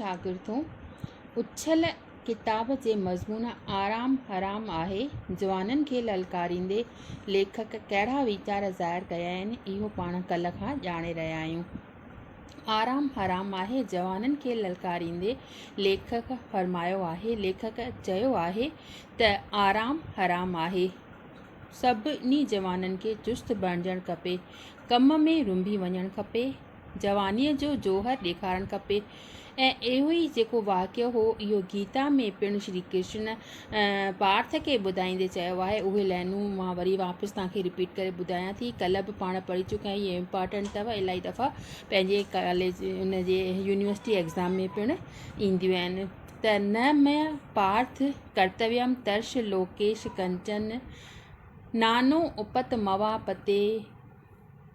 شاگردو! اڇل ڪتاب جي مضمون آرام حرام آهي جوانن کي للڪاريندي ليکڪ ڪهڙا ويچار ظاهر ڪيا آهن اهو پاڻ ڪلهه کان ڄاڻي رهيا آهيون. آرام حرام آهي جوانن کي للڪاريندي ليکڪ فرمايو آهي ليکڪ چيو آهي ته آرام حرام آهي سڀني جوانن کي چست بڻجڻ کپي ڪم ۾ رنڀي وڃڻ کپي جوانيء جو جوهر ڏيکارڻ کپي ۽ اهو ئي جيڪو واقعو هو، اهو گيتا ۾ پڻ شري ڪرشن پارٿ کي ٻڌائيندي چيو آهي. اهي لائنون مان وري واپس توهان کي رپيٽ ڪري ٻڌايان ٿي. ڪلهه به پاڻ پڙهي چڪا آهيون. هي امپارٽنٽ اٿئو. الائي دفعا پنهنجي ڪاليج ان جي يونيورسٽي ايگزام ۾ پڻ اينديون آهن ته نه مئي پارٿ ڪرتويم ترش لوڪيش ڪنچن نانو اپت موا پتي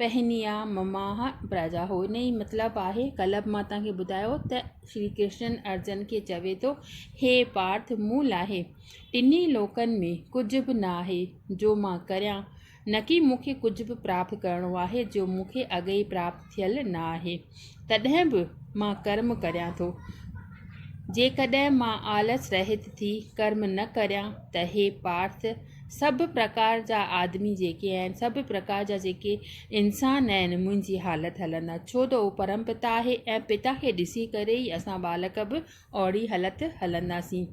پهنيا مماح پراجا هو ان ئي مطلب آهي ڪلب مان توهان کي ٻڌايو ته شري ڪرشن ارجن کي چوي ٿو هي پارٿ مون لاء ٽنهي لوڪن ۾ ڪجهه به نه آهي جو مان ڪريان نڪي مون کي ڪجهه به پراپت ڪرڻو آهي جو مون کي اڳ ئي پراپت ٿيل نه آهي تڏهن به مان ڪرم ڪريان ٿو جيڪڏهن مان آلس رهت ٿي ڪرم نه ڪريان ته هي پارٿ سڀ پرڪار جا آدمي جيڪي آهن، سڀ پرڪار جا جيڪي انسان آهن، منهنجي حالت هلندا، ڇو ته هو پرم پتا آهي ۽ پتا کي ڏسي ڪري ئي اسان ٻالڪ به اوهڙي حالت هلنداسين.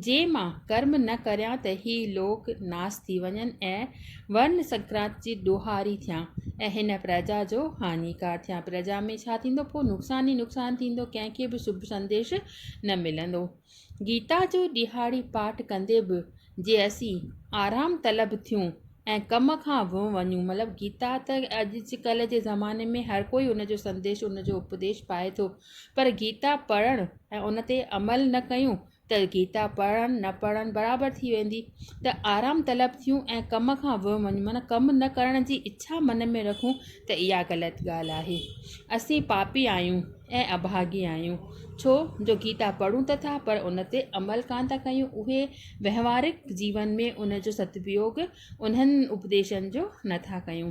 جي مان ڪرم نه ڪريان ته هي لوڪ ناس ٿي وڃن ۽ ورن سنڪرانت جي ڏوهاري ٿيان ۽ هن پرجا جو هاڃيڪار ٿيان. پرجا ۾ ڇا ٿيندو؟ پوء نقصان ئي نقصان ٿيندو، ڪنهن کي به شڀ سنديش نه ملندو. گيتا جو ڏيهاڙي پاٺ ڪندي به جي اسين آرام طلب ٿيون ۽ ڪم کان ويون وڃون مطلب گيتا ته اڄ جي ڪلهه جي زماني ۾ هر ڪوئي ان جو سنديش ان جو اپديش پائي ٿو پر گيتا پڙهڻ ۽ ان تي عمل نه ڪيون ته گيتا پڙهڻ نه پڙهڻ برابر ٿي ويندي ته آرام طلب ٿيون ۽ ڪم کان ويون وڃون معنيٰ ڪم نه ڪرڻ جي اڇا من ۾ رکون ته اها غلط ڳالهه آهي اسين پاپي آهيون ۽ اڀاڳي آهيون ڇو جو گيتا پڙهون ته ٿا پر ان تي عمل ڪانه ٿا ڪيون اهي وهنوارڪ جيون ۾ ان جو ستپيوگ انهن اپديشن جو نه ٿا ڪيون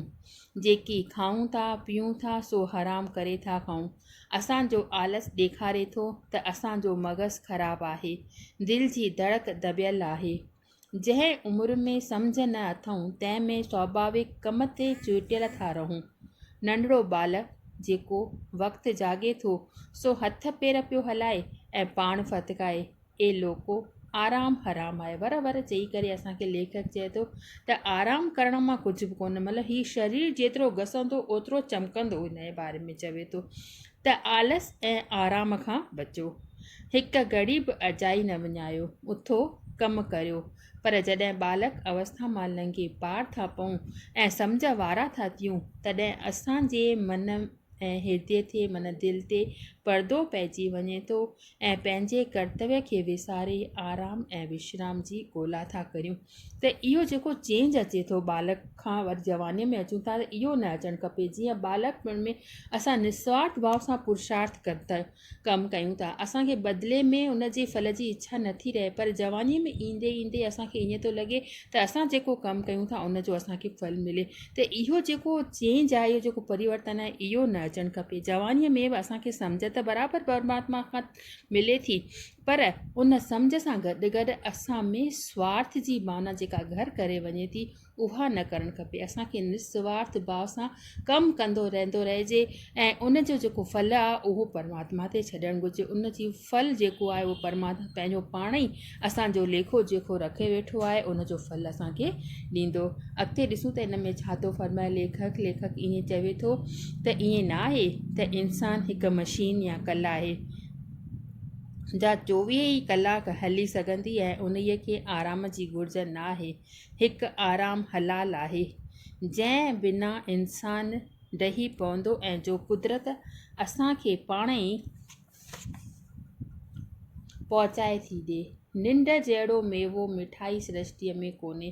جيڪي کائون ٿا پيئون ٿا سو حرام ڪري ٿا کائون اسانجو آلس ڏيکاري ٿو ته اسانجو مغز خراب آهي دل جي ڌڙڪ دٻيل آهي جنهن عمر ۾ سمجهه نه اٿئون، تنهن ۾ سواڀاوڪ ڪم تي چورٽيل ٿا رهون. ننڍڙو ٻالڪ جيڪو وقت جاڳي ٿو، سو هٿ پير پيو هلائي ۽ پاڻ ڦٿڪائي، اي لوڪو! آرام حرام آهي. ور ور چئي ڪري اسان کي ليکڪ چئي ٿو ته آرام ڪرڻ مان ڪجهه به ڪونه مطلب هي شرير جيترو گسندو اوترو چمڪندو انهيء باري ۾ چوي ٿو. ته آلس ۽ آرام کان بچو. هڪ گهڙي به اجائي نه وڃايو، اٿو، ڪم ڪريو. پر جڏهن ٻالڪ اوسٿا مان لنگهي پار ٿا پئون ۽ سمجهه وارا ٿا ٿيون، تڏهن اسان جي من ۽ هردي تي معنيٰ دل تي پردو پئجي وڃي ٿو ۽ پنهنجي ڪرتوي کي وساري آرام ۽ وشرام جي ڳولا ٿا ڪريون. ته اهو جيڪو چينج اچي ٿو ٻالڪ کان وري جوانيء ۾ اچون ٿا ته اهو نه اچڻ کپي جيئن ٻالڪ پڻ ۾ اسان نسوارٿ ڀاو سان پرشارٿ ڪن ٿا ڪم ڪيون ٿا اسانکي بدلي ۾ ان جي ڦل جي اڇا نه ٿي رهي پر جوانيء ۾ ايندي ايندي اسانکي ائين ٿو لڳي ته اسان جيڪو ڪم ڪيون ٿا ان جو اسانکي ڦل ملي ته اهو جيڪو چينج آهي اهو جيڪو پريورتن آهي اهو نه اچڻ کپي جوانيء ۾ به اسانکي سمجهه ته برابر پرماتما کان ملي ٿي پر ان سمجهه سان گڏ گڏ اسان ۾ سوارٿ جي معنيٰ جيڪا گهر ڪري وڃي ٿي اها نه ڪرڻ کپي. اسان کي نسوارٿ ڀاو سان ڪم ڪندو رهندو رهجي ۽ ان جو جيڪو ڦل آهي اهو پرماتما تي ڇڏڻ گهرجي. ان جي ڦل جيڪو آهي اهو پرماتما پنهنجو پاڻ ئي اسان جو ليکو جوکو رکي ويٺو آهي ان جو ڦل اسان کي ڏيندو. اڳتي ڏسون ته ان ۾ ڇا ٿو فرمائي ليکڪ. ليکڪ ائين چوي ٿو ته ائين نه آهي ته انسان هڪ مشين يا ڪل آهي. جا چوويهه ئي ڪلاڪ هلي سگهندي ۽ انهيء کي آرام جي گهرج ناهي. هڪ آرام حلال آهي، جنهن بنا انسان ڊهي پوندو ۽ جو قدرت اسان کي پاڻ ئي پهچائي ٿي ڏئي. ننڊ جهڙو ميوو مٺائي سرشتيء ۾ ڪونهي.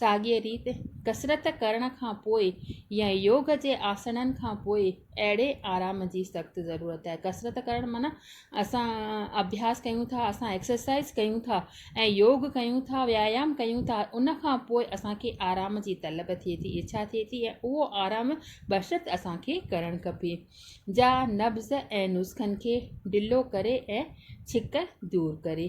ساڳيء ريت ڪسرت ڪرڻ کان پوء يا يوگ جي آسڻن کان پوء اهڙي آرام جي سخت ضرورت آهي. ڪسرت ڪرڻ معنيٰ اسان اڀياس ڪيون ٿا، اسان ايڪسرسائيز ڪيون ٿا ۽ يوگ ڪيون ٿا، ويايام ڪيون ٿا، ان کان پوء اسان کي آرام جي طلب ٿئي ٿي، اڇا ٿئي ٿي ۽ اهو آرام بشرط اسان کي ڪرڻ کپي. جا نبض ۽ نسخن کي ڍلو ڪري ۽ ڇڪ دور ڪري.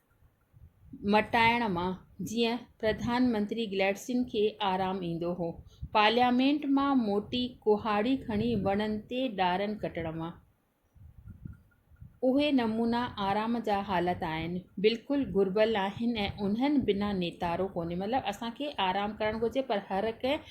مٽائڻ مان جيئن پرڌان منتري گلئڊسٽين کي آرام ايندو هو. پارليامينٽ مان موٽي ڪهاڙي کڻي وڻن تي ڏارن ڪٽڻ مان. اهي نمونا آرام جا حالت آهن. بلڪل گهربل آهن ۽ انهن بنا نيتارو ڪونهي. مطلب اسان کي آرام ڪرڻ گهرجي پر هر ڪنهن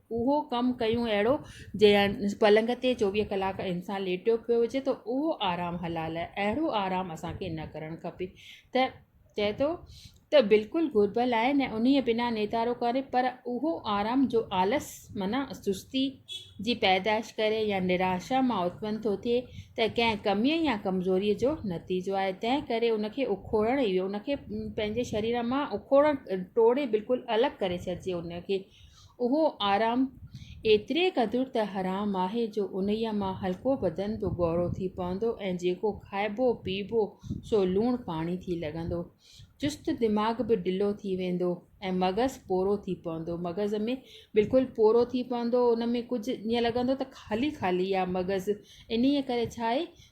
اهو ڪم ڪيون اهڙو جيئن پلنگ تي چوويهه ڪلاڪ انسان ليٽيو پيو هجي ته اهو آرام حلال آهي اهڙو آرام اسان کي نه ڪرڻ کپي ته چئي ٿو ته بلڪل گهربل آهي نه انهي بنا نيتارو ڪري پر اهو آرام جو آلس معنيٰ سستي جي پيدائش ڪري يا نراشا مان اتپن ٿو ٿئي ته ڪنهن ڪميء يا ڪمزوريء جو نتيجو آهي تنهن ڪري ان کي اکوڙڻ ان کي پنهنجي شرير مان اکوڙڻ ٽوڙي بلڪل الڳ ڪري ڇڏجي ان کي اهو آرام ايتري قدر ته حرام آهي جو انهيء مان هلڪو بدن به ڳورو ٿي پوندو ۽ جيڪو کائبو پيئبو سو لوڻ پاڻي ٿي لڳندو. چست دماغ به ڍلو ٿي ويندو ۽ مغز پورو ٿي پوندو. مغز ۾ بلڪل پورو ٿي پوندو، ان ۾ ڪجهه ائين لڳندو ته خالي خالي آ مغز، انهيء ڪري ڇا آهي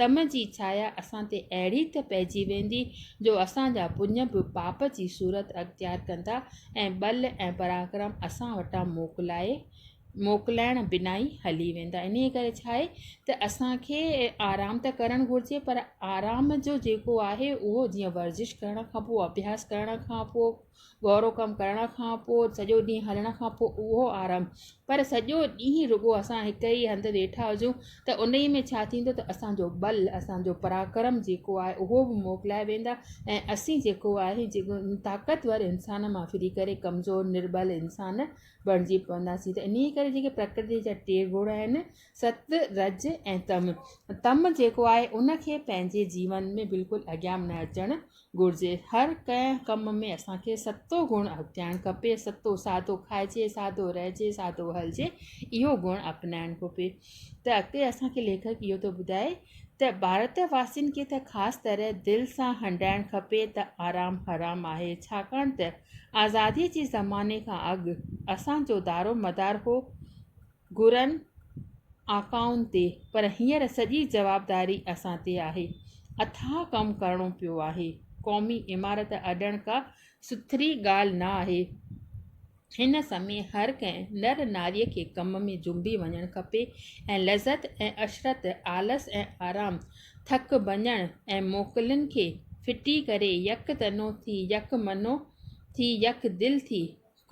تم جي ڇايا اسان تي اهڙي ته پئجي ويندي جو اسان جا پڃ به پاپ جي صورت اختيار ڪندا ۽ ٻل ۽ پراڪرم اسان وٽان موڪلائي موڪلائڻ بنا ئي هلي ويندا. انهيء ڪري ڇا آهي ته اسان کي آرام ته ڪرڻ گهرجي پر آرام جو جيڪو آهي اهو جيئن ورزش ڪرڻ کان پوء اڀياس ڪرڻ کان پوء گهرو ڪم ڪرڻ کان پوء سڄو ڏينهن هلڻ کان پوء اهو آرام پر سڄو ڏينهن رڳو اسان هڪ ئي هنڌ ويٺا هجون ته ان ئي ۾ ڇا ٿيندو ته اسان جو ٻل اسان جو پراڪرم جيڪو آهي اهو به موڪلائي ويندا ۽ اسين جيڪو آهي جيڪو طاقتور انسان مان ڦري ڪري ڪمزور نرٻل انسان بڻجي پونداسين ته انهيء ڪري جيڪي پرڪرتيء جا ٽي گڻ آهن ست رج ۽ تم تم جيڪو آهي ان کي پنهنجي جيون ۾ بلڪل اڳيان نه اچڻ گهرجي هر ڪنهن ڪم ۾ اسان کي ستو گڻ اپنائڻ کپي ستو سادو کائجي سادو رهجي سادو هلجي اهو گڻ اپنائڻ کپي ته اڳتي اسان کي ليکڪ اهو ٿو ٻڌائي ته ڀارت واسين کي ته خاص طرح دل سان هنڊائڻ کپي ته آرام حرام آهي ڇاڪاڻ ته آزادي جي زماني کان اڳ اسان جو دارومدار هو گهرن آقائن تي پر هينئر سڄي جوابداري اسان تي آهي. اٿاهه ڪم ڪرڻو پيو آهي. قومي عمارت اڏڻ ڪا سٿري ڳالهه نه آهي. هن سمي هر ڪنهن نر ناري کي ڪم ۾ جنبي وڃڻ کپي ۽ لذت ۽ عشرت، آلس ۽ آرام، ٿڪ ڀڃڻ ۽ موڪلن کي ڦٽي ڪري يڪ تنو ٿي، يڪ منو ٿي، يڪ دل ٿي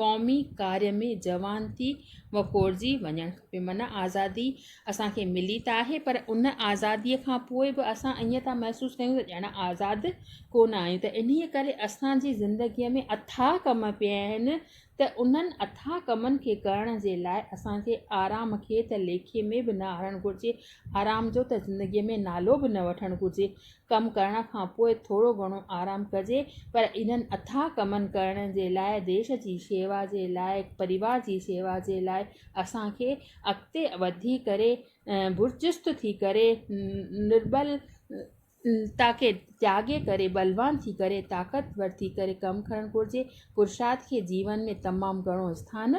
قومي ڪاري ۾ جوان ٿي وڪوڙجي وڃڻ کپي معنيٰ آزادي اسانکي ملي ته آهي پر ان آزاديء کان پوء به اسان ائين ٿا محسوس ڪيون ته ڄڻ آزاد ڪونه آهيون ته انهيء ڪري اسانجي زندگيء ۾ اٿاهه ڪم پيا آهن ته انهن اٿاهه ڪمن کي ڪرڻ جي لاء اسانکي آرام کي ته ليکي ۾ به نه آڻڻ گهرجي آرام جو ته زندگيء ۾ نالو به نه وٺڻ گهرجي ڪم ڪرڻ کان پوء ٿورو گهڻو آرام ڪجي پر انهن اٿاهه ڪمن ڪرڻ جي لاء ديش جي شيوا جي لاء پريوار جي شيوا جي لاء اسان کي اڳتي وڌي ڪري برچست ٿي ڪري نرٻل تا کي تياڳي ڪري ٻلوان ٿي ڪري طاقتور ٿي ڪري ڪم ڪرڻ گهرجي پرشاد کي جيون ۾ تمام گهڻو آستان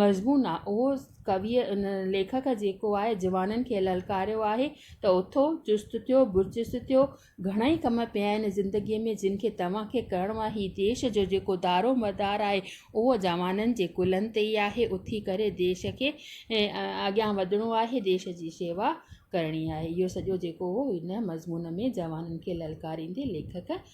مضمون آ اهو ڪويء ان ليکڪ جيڪو آهي جوانن کي للڪاريو آهي ته اٿو، چست ٿيو، برچست ٿيو، گهڻائي ڪم پيا آهن زندگيء ۾ جن کي توهان کي ڪرڻو آهي، هي ديش جو جيڪو دارو مدار آهي اهو جوانن جي ڪلهن تي ئي آهي، اٿي ڪري ديش کي اڳيان وڌڻو آهي، ديش جي شيوا ڪرڻي آهي. اهو سڄو جيڪو هو هن مضمون ۾ جوانن کي للڪاريندي ليکڪ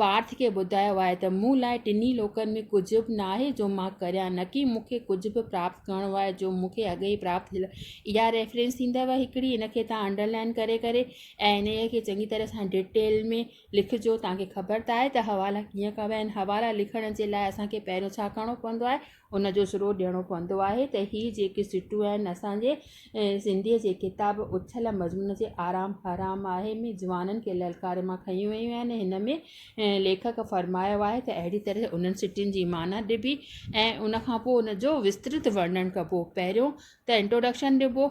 پارٿ کي ٻڌايو آهي ته مون لاء ٽنهي لوڪن ۾ ڪجهه به ناهي جو مان ڪريان نڪي مون کي ڪجهه به پراپت ڪرڻو آهي جو مون کي اڳ ئي پراپت ٿيل آهي اها ريفرنس ٿيندو هڪڙي ان کي تهان انڊرلائن ڪري ڪري ۽ انهيء کي چڱي طرح سان ڊٽيل ۾ لکجو تهان کي خبر ته آهي ته حوالا ڪيئن ڪبا آهن حوالا لکڻ جي لاء اسان کي پهريون ڇا ڪرڻو پوندو آهي ان جو سرو ڏيڻو پوندو آهي ته هي جيڪي سٽون آهن اسان جي سنڌيء جي ڪتاب اڇل مضمون جي آرام حرام آهي ۾ جوانن کي للڪاري مان کنيون ويون آهن هن ۾ ليکڪ فرمايو آهي ته اهڙي طرح انهن سٽين جي معنيٰ ڏبي ۽ ان کان پوء ان جو وسترت ورنڻ ڪبو پهريون ته انٽروڊڪشن ڏبو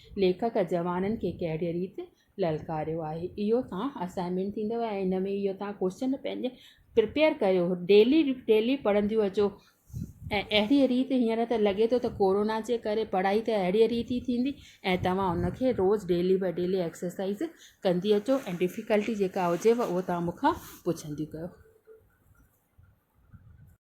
ليکڪ جوانن کي ڪهڙيء ريت للڪاريو آهي اهو توهان اسائنمينٽ ٿيندو ۽ ان ۾ اهو توهان ڪوشچن پنهنجي پرپيئر ڪيو ڊيلي ڊيلي پڙهنديون اچو ۽ اهڙيء ريت هينئر ته لڳي ٿو ته ڪورونا جي ڪري پڙهائي ته اهڙيء ريت ئي ٿيندي ۽ توهان ان کي روز ڊيلي باء ڊيلي ايڪسرسائز ڪندي اچو ۽ ڊفيڪلٽي جيڪا هجيو اهو توهان مون کان پڇنديون ڪيو